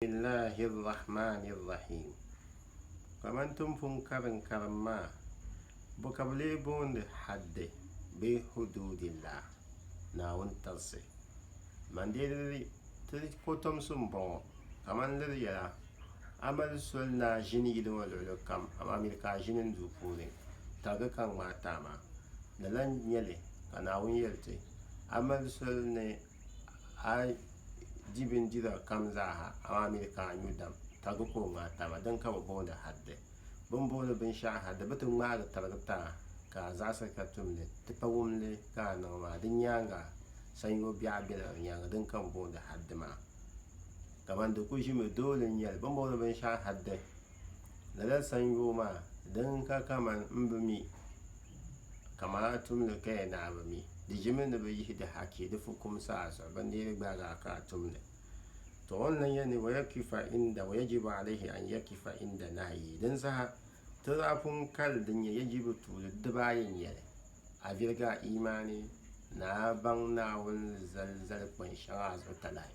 Bisimillahi Rahmani Rahiim. Kamani ti ni pun kari n karim maa, bɔ ka bɛ lee boondi haddi bee huduudillah, Naawuni tirisi? Man dee liri ti kɔtomsi m-bɔŋɔ, kamani liri yɛla, A mali soli ni a ʒini yili ŋɔ luɣili kam, amaa miri ka a ʒini n duu puuni, tarigi ka n ŋmaai taama. Di lan nyɛli ka Naawuni yɛli ti, A mali soli ni a yi di bindira kam zaaha amaa mi di ka a nyu dam, ka di ka o ŋa taba. Din ka bɛ booni hadde. Bɛ ni booni binshɛɣu hadde, bɛ ti ŋmaagi tirigi ti a, ka a zaɣisi ka tum li, ti pa wum li ka a niŋ maa. Di nyaaŋa sanyoo biɛɣu bela di nyaaŋa, din ka bɛ booni hadde maa. Kamani di ku ʒimi dooli n-nyɛ li. Bɛ ni booni binshɛɣu hadde, lala sanyoo maa, din ka kamani m bi mi Kaman a tumdi ka ya naai bi mi, di ʒimi ni bi yihi di haki di fukumsi a zuɣu, bindihili gbaagi a ka a tumdi. Tɔ! O ni lan yɛli ni wa yakifa inda, wa yajibu alayhi an yakifa inda nahyihi. Dinsaha, ti daa pun kali din nyɛ yajibu tuuli dibaa ayi n-nyɛ li, a viligi a iimaani ni a baŋ Naawuni zalizali kpani shɛŋa a zuɣu talahi.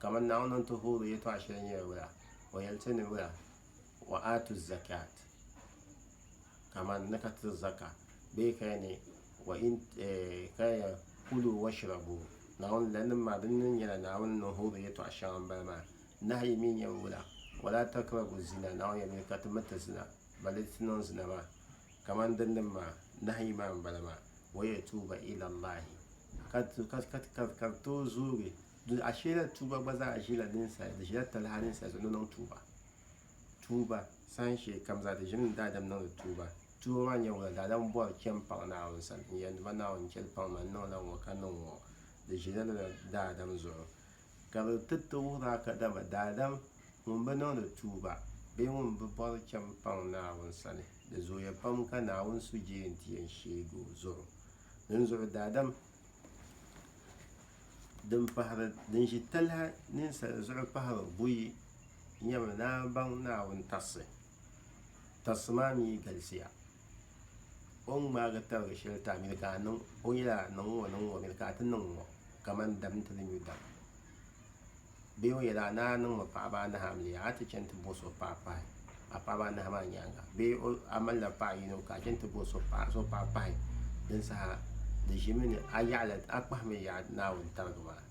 Kaman Naawuni ni ti hoori yɛtɔɣ shɛli nyɛla wula? O yɛli ti ni wula? Wa aatu zakat, kaman ni ka tiri zaka, bee ka ya ni wa in ka ya kulu washrabu, Naawuni lalinim maa din ni nyɛla Naawuni ni hoori yɛtɔɣ shɛŋa m-bala maa. Nahiyi mi nyɛla wula? Wa laa takrabu zina, Naawuni yɛlimi ka ti mi ti zina. mali ti niŋ zina maa, kaman din din maa, nahiyi maa m-bala maa, wa yatuuba ila Allahi, ka ka bɛ tooi zoogi, ashee lala tuuba gba zaa ʒila ninsal, di ʒila talahi ninsal so ni niŋ tuuba, tuuba saha shee kam zaa di ʒimi ni daadam niŋdi tuuba, tuuba maa nyɛla wula, daadam bɔri chani paŋ Naawuni sani n-yɛli ni ba Naawuni n-chɛli paŋ ma n-niŋla ŋɔ ka niŋ ŋɔ, di ʒila lala daadam zuɣu. ka bɛ ti ti wuhir a ka daba daadam ŋun bi niŋdi tuuba bee ŋun bi bɔri cham paŋ Naawuni sani, di zooya pam ka Naawuni suhuyee nti yɛn sheeg o zuɣu. Dinzuɣu daadam din pahiri din ʒi talahi ninsal zuɣu pahiri buyi nyɛmi ni a baŋ Naawuni tarsi. Tarsi maa mi galisiya. o ni ŋmaagi tarigi shɛli ti a mini ka a niŋ o yɛli a niŋ ŋɔ niŋ ŋɔ mini ka a ti niŋ ŋɔ kamani dam ni ti ni nyu dam bee o yɛli a ni a niŋ mi paɣaba anahi amiliya a ti chɛni ti bo so paɣa pahi a paɣaba anahi maa nyaanga bee a malila paɣa yino ka a chɛni ti bo so paɣa pahi din saha di ʒimi ni a yaɣali a kpahimi yaɣa Naawuni tarigi maa